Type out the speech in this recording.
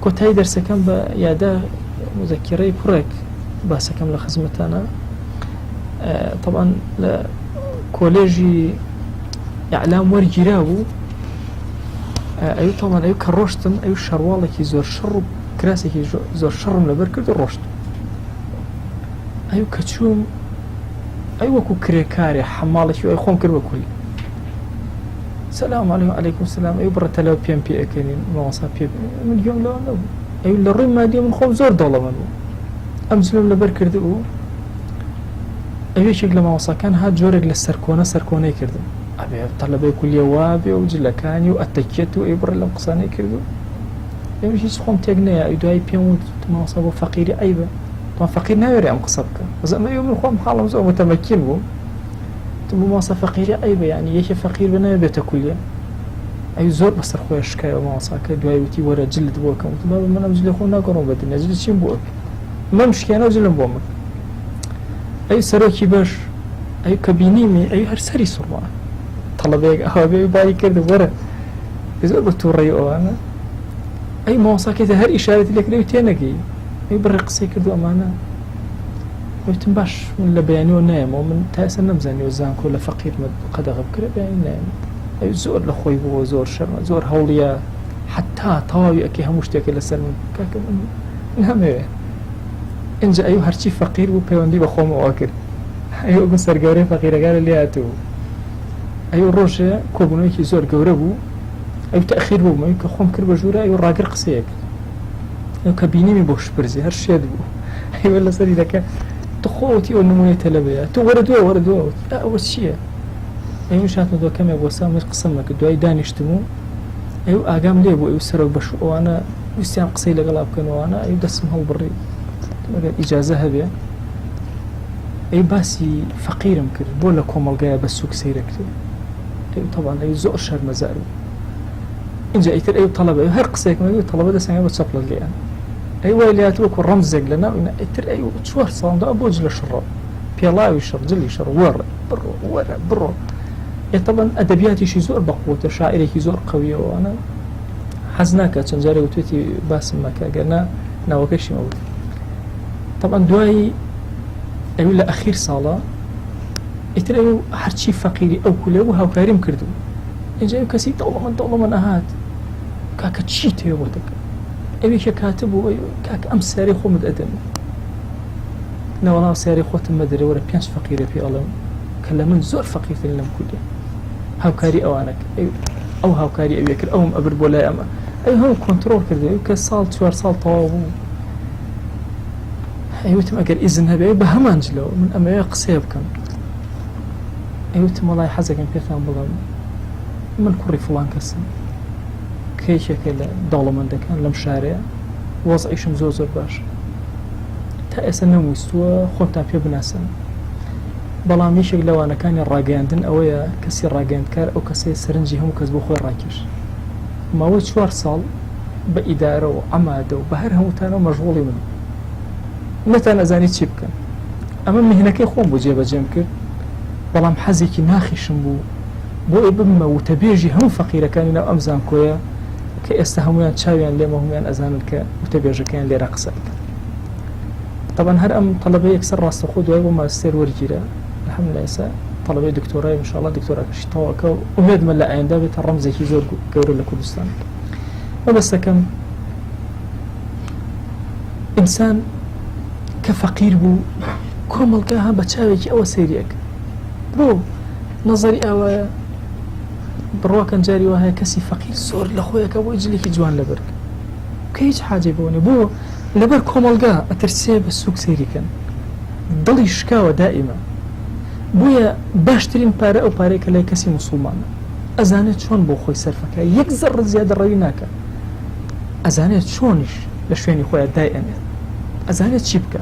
کۆتایی دەرسەکەم بە یادە مزەکیڕەی کوڕێک باسەکەم لە خزمەتانە طبعاان لە کۆلێژی ئەعلام وەرگیرا بوو ئەو تاڵان ئەو کە ڕۆشتم ئەو شەرواڵێکی زۆر شەڕ و کراسێکی زۆر شەڕم لەبەر کرد ڕۆشت ئەو کە چووم ئەی وەکو کرێکارێ حەماڵێکی ئەی خۆم کرد بە کولی سلام علیکم علیکم سلام ئەو بڕە تەلەو پێم پێ ئەکەنین ماوەسا پێ من گوێم لەوە نەبوو ئەو لە ڕووی مادی من خۆم زۆر دەوڵەمەند بوو ئەم زلم لەبەر کرد بوو ئەوێکێک لە ماوەساکان هات جۆرێک لە سەرکۆنە سەرکۆنەی کردم ئەبێ تەلەبەی کولیە وابێ و جلەکانی و ئەتەکێت و ئەی بڕە لەم قسانەی کردو ئەوی هیچ خۆم تێک نەیە ئەی دوای پێم وت ماوەسا بۆ فەقیری عیبە فەقیر ناوێرە ئەم قسە بکە بەزەمە من خۆم حاڵم زۆر متەمەکین بوو تو بۆ مامۆستا فەقیری ئەی بە یانی یەکێ فەقیر بە ناوێ بێتە کولیە ئەی زۆر بەسەر خۆی شکایەوە مامۆساکە دوای وتی وەرە جلت بۆ کەم وتم بابە منم جلی خۆم ناگەڕۆم بە دنیا جلی چیم بۆ ئەکەی مەم شکێنە و جلم بۆ من ئەی سەرۆکی بەش ئەی کە بینیمی ئەی هەر سەری سوڕما تەڵەبەیەک ئەوە بێ باری کرد وەرە زۆر بە تووڕێی ئەوانە ئەی مامۆساکەی هەر ئیشارەتی لەکرێ و تێنەگەی ئەی بڕێ قسەی کردو ئەمانە وتم باش من لە بەیانیەوە نایەمەوە من تا ئێستا نەمزانیەوە زانکۆ لە فەقیرمە قەدەغە بکرێ بەیانی نایم ئەوی زۆر لە خۆی بووە زۆر شەرمە زۆر هەوڵیە حتا تەواوی ئەکێ هەموو شتێکە لەسەر من کاکە من نامەوێ ئەجا ئەو هەرچی فەقیر بوو پەیوەندی بە خۆمەوە کرد ئەو بە سەرگەورەی فەقیرەکانە لاتوو ئەو ڕۆژێ کۆبوونەوەیکی زۆر گەورە بوو ئەو تاخیر بوو من کە خۆم کرد بە ژوورە ئەو ڕاگر قسەیەک ئەو کە بینیمی بۆ شپرزی هەر شێت بوو هیوە لەسەری دەکە تخۆوتی ئەو نمونەی تەلەبەیە تو وەرە دوێ وەرە دوێ ئەوە چییە؟ ئەوش هاتمە دۆ کەمێک بۆ سامی قسم نەکە دوای دانیشتم و ئەو ئاگام لێ بوو ئەو سەرۆک بەش ئەوانە ویستیان قسەی لەگەڵا بکەنەوەوانە ئەو دەسم هەڵبڕی ئەگەر ئیجازە هەبێ ئەی باسی فەقیرم کرد بۆ لە کۆمەلگایە بە سوک سەیرەکرێ تەوانەی زۆر شەرمەزار بوو ئینجا ئیتر ئەو تەڵەبە ئەو هەر قسەیەکم لەگەڵ تەڵەبە دەسەنگە بە چەپڵە لێیان ئەی وای لات وەکو ڕەمزێک لە ناو ئینا ئیتر ئەی چوار ساڵدا بۆ جلە شڕۆ پێڵاوی شڕ جلی شڕ وەڕ بڕۆ وەرە بڕۆ ئێتەبەن ئەدەبیاتیشی زۆر بەقوتە شاعرێکی زۆر قویەوەوانە حەز ناکە چەند جارێ وتێتی باسم مەکە گەرنا ناوەکەشی مەوت طبعا دوایی ئەوی لە ئەخیر ساڵە ئیتر ئەو هەرچی فەقیری ئەو کولێ بوو هاوکاریم کردو ئینجا ئەو کەسی دەوڵەمەند دەوڵەمەند ئەهات کاکە چی تێ بۆ دەکەم ئەوێک یە کاتە بۆ کاک ئەم سیارەی خۆمت ئەدەم لە وەڵاو سیارەی خۆتم مەدەێ وەرە پێنج فەقیرە پێ ئەڵێم کە لە من زۆر فەقیرترین لەم کوردە هاوکاری ئەوانە ئەو هاوکاری ئەوێ کرد ئەوم ئەبر بۆ لای ئەمە ئەو هەم کۆنتترۆل کردەوە کە ساڵ چوار ساڵ تەواو بوو ئەوتم ئەگەر ئیزن هەبێ بە هەمان جلەوە من ئەمەوێ قسەیە بکەم ئەیوتم وەڵای حەزەکەم پێتان بڵێم من کوڕی فڵان کەسم کە یەکێکە لە دەوڵەمەندەکان لەم شارەیە وەزعیشم زۆر زۆر باش تا ئێستا نەمویستووە خۆتان پێ بناسن بەڵام یەکێک لەوانەکانی ڕاگەیاندن ئەوەیە کەسی ڕاگەندکار ئەو کەسەیە سەرنجی هەموو کەس بۆ خۆی ڕاکێش ماوەی چوار ساڵ بە ئیدارە و ئەمادە و بە هەر هەمووتانەوە مەژغۆڵی من نەتان ئەزانی چی بکەن ئەمە مهنەکەی خۆم بۆ جێبەجێم کرد بەڵام حەزێکی ناخیشم بوو بۆ ئەوەی ببمە وتەبێژی هەموو فەقیرەکانی ناو ئەم زانکۆیە کە ئێستا هەمویان چاویان لێمە هەمویان ئەزانن کە وتەبێژەکەیان لێرە قسە بکەن طبعا هەر ئەم طلبە یەکسەر ڕاستەخۆ دوای بۆ ماستێر وەرگیرە الحمد لله ئێستا طلبەی دکتۆرای انشاءالله دکتۆراکەشی تەواکە و ئومێدمە لە ئایندا بێتە ڕەمزێکی زۆر گەورە لە کوردستان مەبەستەکەم ئینسان کە فەقیر بوو کۆمەڵگا ها بە چاوێکی ئەوە سەیری ئەکرد برۆ نەزەری ئاوایە بڕواکەن جاری وهەیە کەسی فەقیر زۆر لە خۆیەکە بۆی جلێکی جوان لەبەرگ کە هیچ حاجێ بۆنێ بۆ لەبەر کۆمەڵگا ئەترسێ بە سوک سەیریکەن دڵی شکاوە دائیمە بۆیە باشترین پارە ئەو پارەیە کە لای کەسی مسلمانە ئەزانێت چۆن بۆ خۆی سەرفەکە یەک زەڕ زیادە ڕەوی ناکە ئەزانێت چۆنیش لە شوێنی خۆیان دای ئەنێت ئەزانێت چی بکە